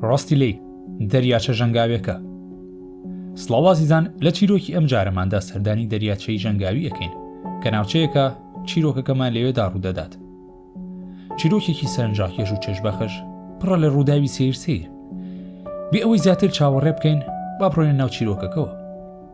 ڕاستی لی دەریاچە ژەنگاوێکە سڵاوازیزان لە چیرۆکی ئەم جارەماندا سەردانی دەریاچەی ژەنگاوی ئەەکەین کە ناوچەیەکە چیرۆکەکەمان لەوێدا ڕوودەدات چیرۆکێکی سەرنجاکێش و چێژبەخش پڕە لە ڕووداوی سیر سیر بێ ئەوەی زیاتر چاوەڕێ بکەین با بڕۆێن ناو چیرۆکەکەەوە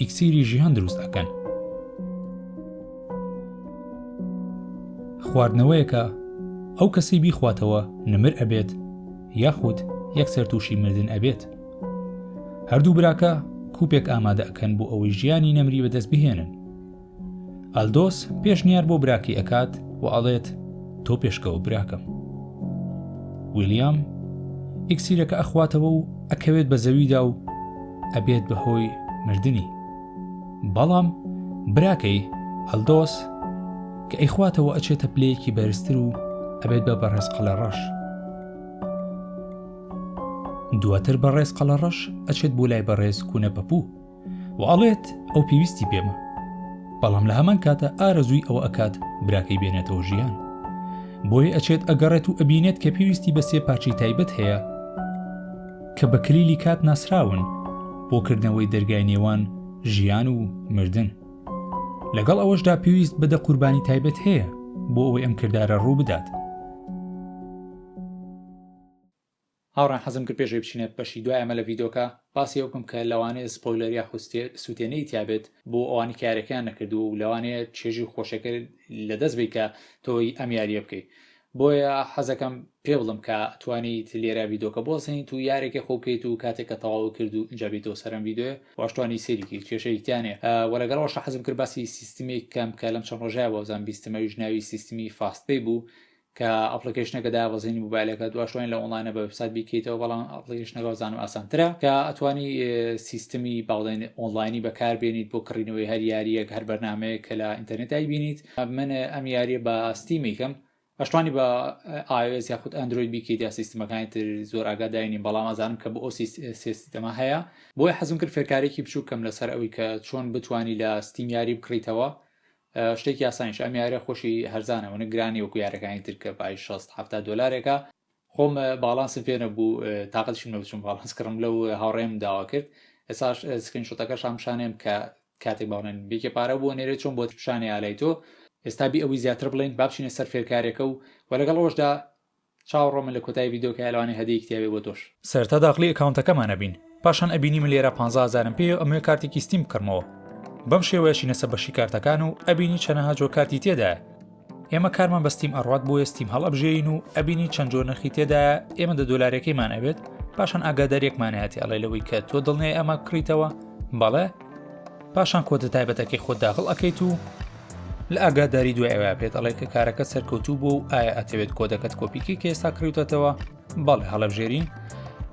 ئیکسیری ژیان دروست ئەکەن خواردنەوەیەکە ئەو کەسی بیخواتەوە نمر ئەبێت یاخود یەکسەر تووشی مردن ئەبێت هەردوو براکە کوپێک ئامادە ئەکەن بۆ ئەوەی ژیانی نەمری بەدەست بهێنن ئەلدۆس پێشنیار بۆ براکەی ئەکات و ئەڵێت تۆ پێشکەوە براکەم ویلیام ئیکسیرەکە ئەخواتەوە و ئەکەوێت بە زەویدا و ئەبێت بە هۆی مردنی بەڵام براکەی ئەلدۆس کە ئەیخواتەوە ئەچێتە پلەیەکی بەرزتر و ئەبێت بە بەڕێز قەلە ڕەش دواتر بەڕێز قەلە ڕەش ئەچێت بۆ لای بەڕێز کوونە پەپوو و ئەڵێت ئەو پێویستی پێمە بەڵام لە هەمان کاتە ئارەزووی ئەوە ئەکات براکەی بێنێتەوە ژیان بۆی ئەچێت ئەگەڕێت و ئەبینێت کە پێویستی بە سێ پارچەی تایبەت هەیە کە بە کلیلی کات ناسراون بۆ کردنەوەی دەرگای نێوان ژیان و مردن لەگەڵ ئەوەشدا پێویست بەدە قوربانی تایبەت هەیە بۆ ئەوەی ئەم کردارە ڕوو بدات هاوڕێیان حەزم کرد پێش ئەوەی بچینە بەشی دوای ئەمە لە ڤیدۆکە باسی ئەوە بکەم کە لەوانەیە سپۆیلەر یاخود سوتێنەری تیا بێت بۆ ئەوانەی کە یارەکەیان نەکردووە و لەوانەیە چێژی خۆشەکە لە دەست بی کە تۆی ئەم یاریە بکەی بۆیە حەزەکەم پێ بڵم کە توانیت لێرە ڤیدۆکە بۆسەین تو یارێکی خۆ بکەیت و کاتێک کە تەواو کرد و ئینجا بێتەوە سەرم ڤیدۆێ واشتوانی سێریکی کێشەیتیانێ وە لەگەڵ وەشە حەزم کرد باسی سیستمی کەم کە لەم چەند ڕۆژای بۆزان بیستمەویش ناوی سیستمی فاستەی بوو کە ئەپڵیکەیشنەکە دابەزینی موبایلەکە دواشوین لە ئۆنلاینە بە وبسات بیکەیتەوە بەڵام ئەپڵیکەیشنەکە زانم ئاسانترە کە ئەتوانی سیستمی باڵێن ئۆنلاینی بەکاربێنیت بۆ کڕینەوەی هەر یاریەک هەر بەرنمەیە کە لە ئینتەرنێتایی بینیت من ئەم یاریە بە ستیمیکەم ئەشتوانی بە ئاوێز یاخود ئەندروید بیکەیت یا سیستمەکانی تر زۆر ئاگاداینین بەڵام ئازانم کە بۆ ئەو سیستەما هەیە بۆی حەزم کرد فێرکارێکی بچووکەم لەسەر ئەوی کە چۆن بتانی لە ستیمیاری بکڕیتەوە شتێکی ئاسانیش ئەم یارە خۆشی هەرزانە ونە گرانی وەکو یارەکانی ترکە پای 6 هەفتا دلارێکە خۆم باڵانسم پێ نەبوو تااقەتشم نەوچم باڵانس کڕم لەو هاوڕێم داوا کرد ئێساش سکرین شتەکەش هەمشانێم کە کاتێک باڵێن بێکی پارە بووە نێرێت چۆن بۆ پیشانی ئالای تۆ ئێستا بی ئەوی زیاتر بڵین بابچینە سەر فێرکارێکە و وە لەگەڵ ڕۆژدا چاوڕۆ من لە کۆتایی ڤیدۆ کایە لەوانەیە هەدیەیەک تیابێ بۆ تۆش. سەرەتا داخلی ئەکاونتەکەمان ئەبین پاشان ئەبینی من لێرە پانزا هەزارم پێیە و ئەمەوێ کارتێکی ستیم بکڕمەوە بەم شێوەیە چینەسە بەشی کارتەکان و ئەبینی چەنەها جۆر کارتی تێدایە ئێمە کارمان بە ستیم ئەڕوات بۆیە ستیم هەڵئەبژێین و ئەبینی چەند جۆر نرخی تێدایە ئێمە دە دۆلارەکەیمان ئەبێت پاشان ئاگاداریەکمان هەیەتی ئەڵێ لەوەی کە تۆ دڵنیای ئەمە بکڕیتەوە بەڵێ پاشان کۆدە تایبەتەکەی خۆت داخڵ ئەکەیت و لە ئاگاداری دوای ئەوە پێت ئەڵێ کە کارەکە سەرکەوتوو بۆ و ئایا ئەتەوێت کۆدەکەت کۆپیکی کە ئێستا کڕیوتەتەوە بەڵێ هەڵەبژێری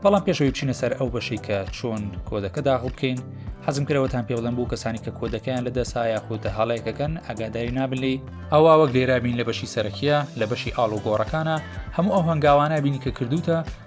بەڵام پێشەوەی بچینە سەر ئەو بەشی کە چۆن کۆدەکە داخڵ بکەین حەزم کرەوەتان پێ بڵم بوو کەسانی کە کۆدەکەیان لە دەسا یاخودە هەڵەیەکەکەن ئەگاداری نابلی ئەوە وەک لێرابین لە بەشی سەرەکیە لە بەشی ئاڵوگۆڕەکانە هەموو ئەو هەنگاوانە بینی کە کردوتە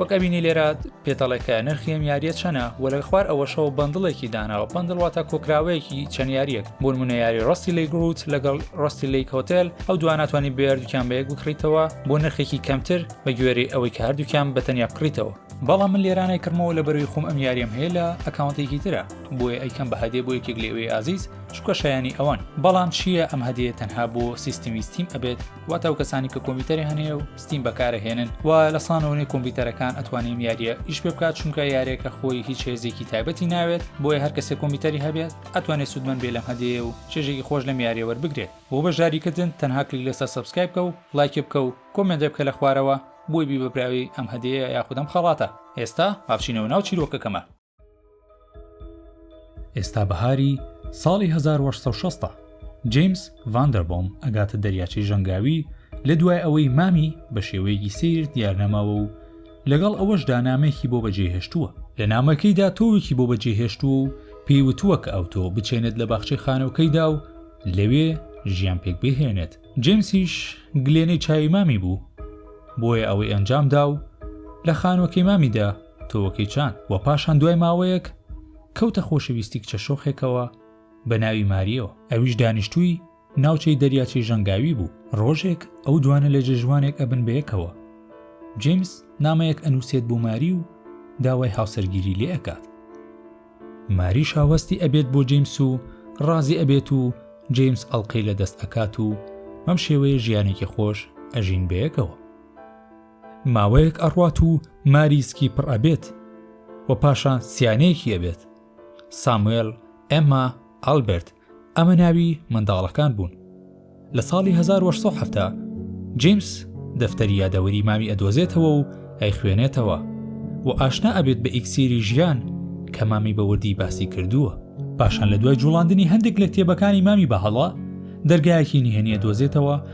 وەک ئەبینی لێرە پێتەڵێکە نرخی ئەم یاریە چەنە وە لە خوار ئەوەشەوە بەندڵێکی داناوە بەندڵواتە کۆکراوەیەکی چەند یاریەک بۆ منە یاری ڕاستی لی گروت لەگەڵ ڕاستی لی کۆتێل ئەو دواناتوانانی بێردووکیان بە یەک بکڕیتەوە بۆ نرخێکی کەمتر بە گوێری ئەوەی کە هەردووکیان بە تەنیا بکڕیتەوە بەڵام من لێرانای کردمەوە لە بەروی خۆم ئەم یاریەم هەیە لە ئەکاونتێکی ترە بۆیە ئەیکەم بە هەدێ بۆ یەکێک لێوێ ئازیز چکە شایانی ئەوان بەڵام چییە ئەم هەدەیە تەنها بۆ سیستمی ستیم ئەبێت واتە ئەو کەسانی کە کۆمپیوتەری هەنێ و ستیم بەکارە هێنن و لە سانەوەی کۆمپیوتەرەکان ئەتوانین یاریە ئیش پێ بکات چونکە یارێکە خۆی هیچ هێزێکی تایبەتی ناوێت بۆیە هەر کەسێک کۆمپیوتەری هەبێت ئەتوانێت سوودمەند بێ لەم هەدەیە و چێژێکی خۆش لەم یاریە وەربگرێت بۆ بەشداریکردن تەنها کلیک لەسەر سبسکرایب بکە و لایکی بکە و کۆمێنتێ بکە لە خوارەوە بۆی بی بە براوەی ئەم هەدەیە یاخود ئەم خەڵاتە ئێستا با بچینەوە ناو چیرۆکەکەمان. ئێستا بەهاری ساڵی 1960 جیمس ڤاندەربۆم ئەگاتە دەریاچەی ژەنگاوی لە دوای ئەوەی مامی بە شێوەیەکی سیر دیارنەماوە و لەگەڵ ئەوەشدا نامێکی بۆ بەجێهێشتووە لە نامەکەیدا تۆوێکی بۆ بەجێهێشتووە و پێی وتووە کە ئەو تۆ بچێنێت لە باخچەی خانەوەکەیدا و لەوێ ژیان پێک بهێنێت جیمسیش گلێنەی چاوی مامی بوو بۆیە ئەوەی ئەنجامدا و لە خانوەکەی مامیدا تۆوەکەی چان و پاشان دوای ماوەیەک کەوتە خۆشەویستی کچە شۆخێکەوە بە ناوی ماریەوە ئەویش دانیشتووی ناوچەی دەریاچەی ژەنگاوی بوو ڕۆژێک ئەو دوانە لە جێژوانێک ئەبن بەیەکەوە جیمس نامەیەک ئەنووسێت بۆ ماری و داوای هاوسەرگیری لێ ئەکات ماری شاوەستی ئەبێت بۆ جیمس و ڕازی ئەبێت و جیمس ئەڵلقەی لە دەست ئەکات و مەم شێوەیە ژیانێکی خۆش ئەژین بەیەکەوە ماوەیەک ئەڕوات و ماری سکی پڕ ئەبێت و پاشان سیانەیەکی ئەبێت ساموێل ئێما ئەلبرت ئەمە ناوی منداڵەکان بوون لە ساڵی 1970 جیمس دەفتەری یادەوەری مامی ئەدۆزێتەوە و ئەی خوێنێتەوە و ئاشنا ئەبێت بە ئیکسیری ژیان کە مامی بەوردی باسی کردووە پاشان لە دوای جوڵاندنی هەندێک لە کتێبەکانی مامی بەهەڵە دەرگایەکی نهێنیە دۆزێتەوە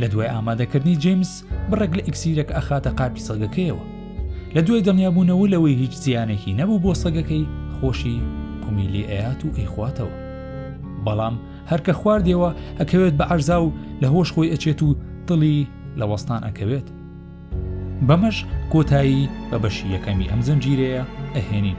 لە دوای ئامادەکردنی جەیمس بڕێک لە ئیکسیرەکە ئەخاتە قاپی سەگەکەیەوە لە دوای دڵنیابوونەوە لەوەی هیچ زیانێکی نەبوو بۆ سەگەکەی خۆشی قومی لێ ئەیات و ئەیخواتەوە بەڵام هەرکە خواردەوە ئەکەوێت بە عەرزا و لە هۆش خۆی ئەچێت و دڵی لە وەستان ئەکەوێت بەمەش کۆتایی بە بەشی یەکەمی ئەم زنجیرەیە ئەهێنین